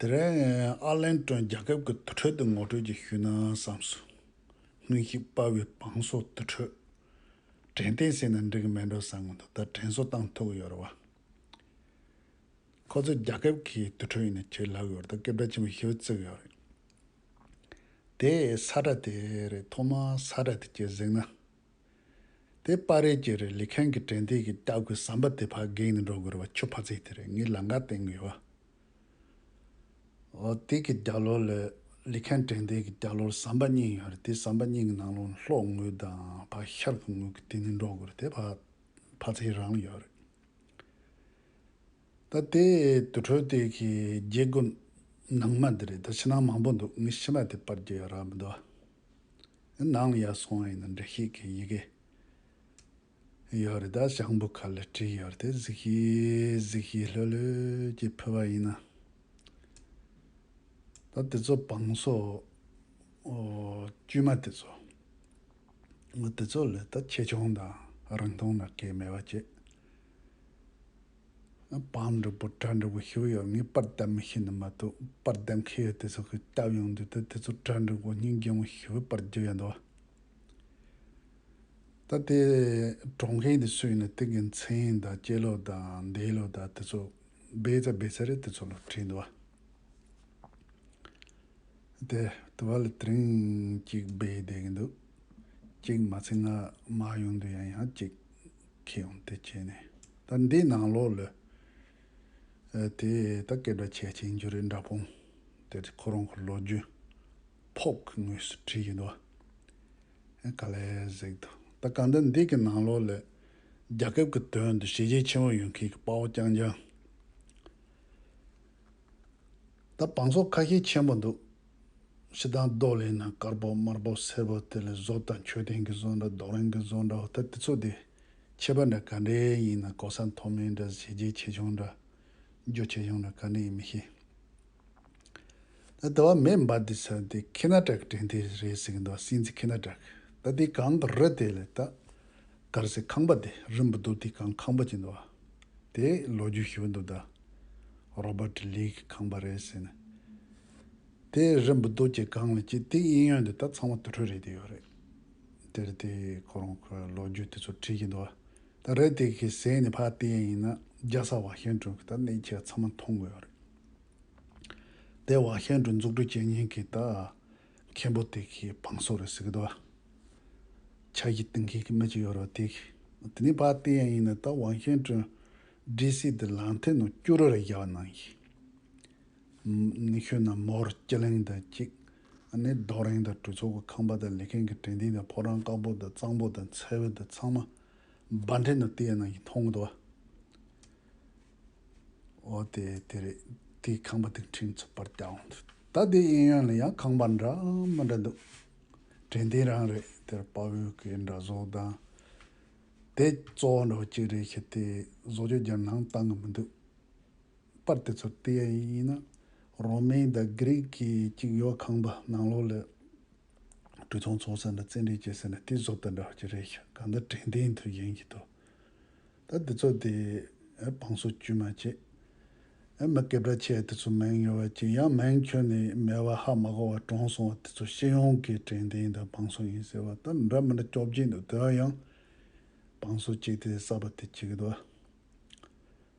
དེ་རིང་ཨ་ལན་ཀྲོན་རྒྱལ་ཁབ་ཀྱི་དུར་ཁྲོད་དུ་ངོ་སྤྲོད་ཀྱི་ཞུས་ན་བསམ་སོང། སྔོན་གཤེགས་དཔའ་བོའི་བང་སོ་དུར་ཁྲོད། དྲན་རྟེན་ཟེར་ན་འགྲིག་མེད་འགྲོ་བསམ་གི་འདུག་ད་དྲན་གསོ་སྟངས་ཐུག་ཡོད་རེད་བ། ཁོ་ཚོས་རྒྱལ་ཁབ་ཀྱི་དུར་ཁྲོད་ཡིན་ནི་ཁྱོད་ལབ་ཡོད་རེད་དོ་སྐད་སྒྲ་ཆེན་པོ་ཞེ་བོ་བརྩེགས་ཡོད་རེད། དེས་ས་ཁྲ་དེ་རེད་ཐོག་མར་ས་ཁྲ་དེ་ཁྱོད་གཟིགས་ན། དེ་པར་རེས་ཀྱི་རེད་ལི་ཁན་གྱི་དྲན་ཐིག་གི་སྐྱག་དགུའི་བསམ་པ་དེ་ཕར་བགེགས་ནས་འགྲོ་དགོས་རེད་བ་ཁྱོད་ཕར་ཚིག་དེ་རེད་ངའི་ལང་ཀ་སྟེང་གི་བ། ཨོ་དེ་གི་རྒྱ་ལོར་ལི་ལི་ཁན་དྲན་ཐིག་གི་རྒྱ་ལོར་བསམ་པ་གཉིས་ཡོད་རེད་དེ་བསམ་པ་གཉིས་གི་ནང་ལོ་ལྷོག་དངུལ་དང་བ་ཤར་གི་དངུལ་གི་དེ་ནས་འགྲོ་དགོས་རེད་དེ་ཕར་ཕར་ཚིག་རང་ཡོད་རེད། ད་དེ་དུར་ཁྲོད་དེ་གི་རྒྱལ་སྒོ་ནང་མ་དེ་རེད་ད་ཕྱི་ནང་མང་པོ་འདུག་ངའི་ཕྱི་མ་དེ་པར་རྒྱལ་ཡོད་ར་མི་འདུག་བ། ནང་ཡ་སོང་ཡིན་ན་འབྲི་ཤེས་མཁན་ཡི་གེ་ཡོད་རེད་ད་ཞང་བུ་ཁ་ལ་བྲིས་ཡོད་དེ་གཟིགས་ཤེས་གཟིགས་ཤེས་ལྷོད་ལྷོད་ཀྱི་ཕུལ་བ་ཡིན་ན། ད་དེ་ཚོ་བང་སོ་དཀྱུས་མ་དེ་ཚོ་དེ་ཚོ་ལས་ད་ཆེ་ཆུང་དང་རིང་ཐུང་ན་སྐད་མེད་པ་ཅི། པང་འབྲས་བུ་བྲག་འབྲས་བུ་ཞིག་ཡོད་ངེས་པར་དད་མོས་བྱེད་འདོད་མ་ཐུབ་པར་དད་མཁས་ཡོད་དེ་ཚོ་གི་སྐྱབས་ཡོང་དུས་ད་དེ་ཚོ་བྲག་འབྲས་བུ་སྙིང་རྗེ་ངོ་ཞིག་ཡོད་པར་བརྗོད་ཡ་འདུག་ད་དེ་གྲོང་མཁན་དེ་སུ་ཡིན་ན་དེ་གི་མཚན་དང་སྐྱེས་ལོ་དང་འདས་ལོ་དང་དེ་ཚོ་སྦས་རྩ་སྦས་ཚར་རེད་དེ་ཚོ་ལ་དྲིས་འདུག་དེ་དེ་བ་ལ་དྲིན་གཅིག་སྦས་བསྡད་གི་འདུག་གཅིག་མ་ཚད་ང་མ་ཡོང་དུས་ཡང་ཡང་གཅིག་ཁྱེད་ཡོང་དེ་བྱས་ནས་ད་འདི་ནང་ལོག་ལོས། དེ་ད་སྐད་སྒྲ་ཆད་ཅིང་འཇུ་རེ་འདྲ་ཕོངས་དེ་ཁོ་རང་གི་ལོ་རྒྱུས་ཕོག་གི་ངོས་སུ་བྲིས་ཡོད་དོ། ག་ལས་གཟིགས་ཐུབ་ད་གང་ལྟར་འདི་གི་ནང་ལོག་ལོས་རྒྱ་ཁབ་ཀྱི་དོན་དུ་བྱས་རྗེས་ཆེན་པོ་ཡོད་མཁན་གྱི་དཔའ་བོ་རྐྱང་རྐྱང་ད་བང་སོ་ཁ་ཤས་ཆེན་པོ་འདུག་ཕྱི་རྟ་མདོག་ལེན་ན་དཀར་པོ་དམར་པོ་སེར་པོ་དེ་ལས་བཟོ་དང་མཆོད་རྟེན་གྱི་བཟོ་འདྲ་རྡོག་རིང་གི་བཟོ་འདྲ་བ་ད་དེ་ཚོ་དེ་ཁྱད་པར་འདྲ་ག་འདྲའི་ཡིན་ན་ལྐོག་ཟ་མཐོ་དམན་འདྲ་བྱས་རྗེས་ཆེ་ཆུང་འདྲ་རྒྱུ་ཆེ་ཆུང་འདྲ་ག་འདྲ་ཡིན་མི་ཤེས། ད་དེ་བ་མེ་འབར་འདི་ཚ་འདི་ཁི་ན་ཏྲ་གི་དྲན་ཐེ་རེད་ཟེར་གྱི་འདུག་བ་སྲིན་རྩི་ཁི་ན་ཏྲ་གི་ད་འདི་གང་གི་རི་དེ་ལས་ད་གར་སའི་ཁང་པ་དེ་རི་འབུ་དུག་དེ་གང་ཁང་པ་གྱི་འདུག་བ་དེ་ལོ་རྒྱུས་ཞུ་འདུག་ད་རོ་པ་ཏི་ལིའི་གི་ཁང་པ་རེད་ཟེར་ནས། དེ་རིན་པོ་རྡོ་རྗེ་གང་ལ་སྐྱེས་དེའི་དབྱིན་ཡོན་དེ་དག་ཚང་མ་དུར་ཁྲོད་རེད་དེ་ཡོད་རེད། དེར་དེ་ཁོ་རང་ཁོའི་ལོ་རྒྱུས་དེ་ཚོ་བྲིས་ཀྱི་འདུག་ད་རེད་དེ་གི་ཟས་ནི་ཕ་དེ་ཡིན་ན་རྒྱ་ས་བྷ་ཤན་ཀྲུང་གི་ད་གནས་ཁྱེད་ཚང་མ་མཐོང་གི་ཡོད་རེད། དེ་བྷ་ཤན་ཀྲུང་འཛུགས་སྐྲུན་བྱེད་ཉིན་གི་ད་མཁན་པོ་དེ་གི་བང་སོ་རེད་ཟེར་གི་འདུག་ཕྱག་བཞི་གཏིང་མཁན་གི་མི་གཅིག་ཡོད་རེད་དེ་གི་དེ་ནི་ཕ་དེ་ཡིན་ན་ད་བྷ་ཤན་ཀྲུང་སྒྲིག་སྲིད་དེ་ལང་ཐེ་ནང་སྐྱུ་རུ་རེ་རྒྱག་གནང་གི། ཁྱོད་རྣམས་མོར་སྐྱི་ལེང་དང་གཅིག། ནི་རྡོ་རེང་དང་གྲོས་ཚོགས་ཀྱི་ཁང་པ་དང་ལས་མཁན་གྱི་དྲན་རྟིང་དང་ཕོ་བྲང་དཀར་པོ་དང་གཙང་པོ་དང་མཚལ་བུ་དང་ཚང་མ། སྦ་འདྲེ་ནུབ་སྟེགས་ནང་གི་མཐོང་གི་དོ། འོ་དེ་དེ་རེད། དེའི་ཁང་པ་དེ་འཕྲིན་ཚོགས་པར་བསྐྱལ་འོང། ད་དེའི་གཡས་གཡོན་ལ་ཡང་ཁང་པ་འདྲ་མི་འདྲ་འདུག། དྲན་རྟིང་རང་རེད་དེར་དཔའ་བོའི་སྐད་འདྲ་བཟོ་དང། དེ་གཙོ་བོ་འདྲ་བོ་གཅིག་རེད་ཤི་དེས་བཟོ་བཅོས་རྒྱར་ནང་བཏང་གི་མི་འདུག། པར་དེ་ཚོར་བལྟས་ཡ་ཡིན་ཡིན་ན་རོ་མའི་ཟླ་དགེ་རིགས་ཀྱི་གཅིག་ཡོད་ཁང་པ་ནང་ལོགས་ལས་གྲོས་ཚོགས་འཚོགས་ཟེར་ན་བཙན་འབྲེལ་བྱས་ཟེར་ན་དེ་བཟོ་ལྟ་འདྲ་བ་ཅི་རེད་ཤག་གང་ལྟར་དྲན་རྟེན་དུ་ཡིན་གྱི་འདུག་ད་དེ་ཚོ་དེ་བང་སོ་བཅུད་མ་བྱེད་ཨ་མི་སྐད་བརྡ་ཆད་དེ་ཚོ་མིང་ཡོད་བ་ཅི་ཡང་མིང་ཁྱོན་ནས་མེད་བ་ཧ་མ་གོ་བ་གྲོངས་སོང་བ་དེ་ཚོ་ཤེས་ཡོང་གི་དྲན་རྟེན་དང་བང་སོ་ཡིན་ཟེར་བ་ད་འདྲ་མི་འདྲ་སྐྱོབ་ཀྱིན་འདུག་དེ་འང་ཡང་བང་སོ་གཅིག་དེ་གསར་པ་དེ་བྱེད་གི་འདུག་ཨ།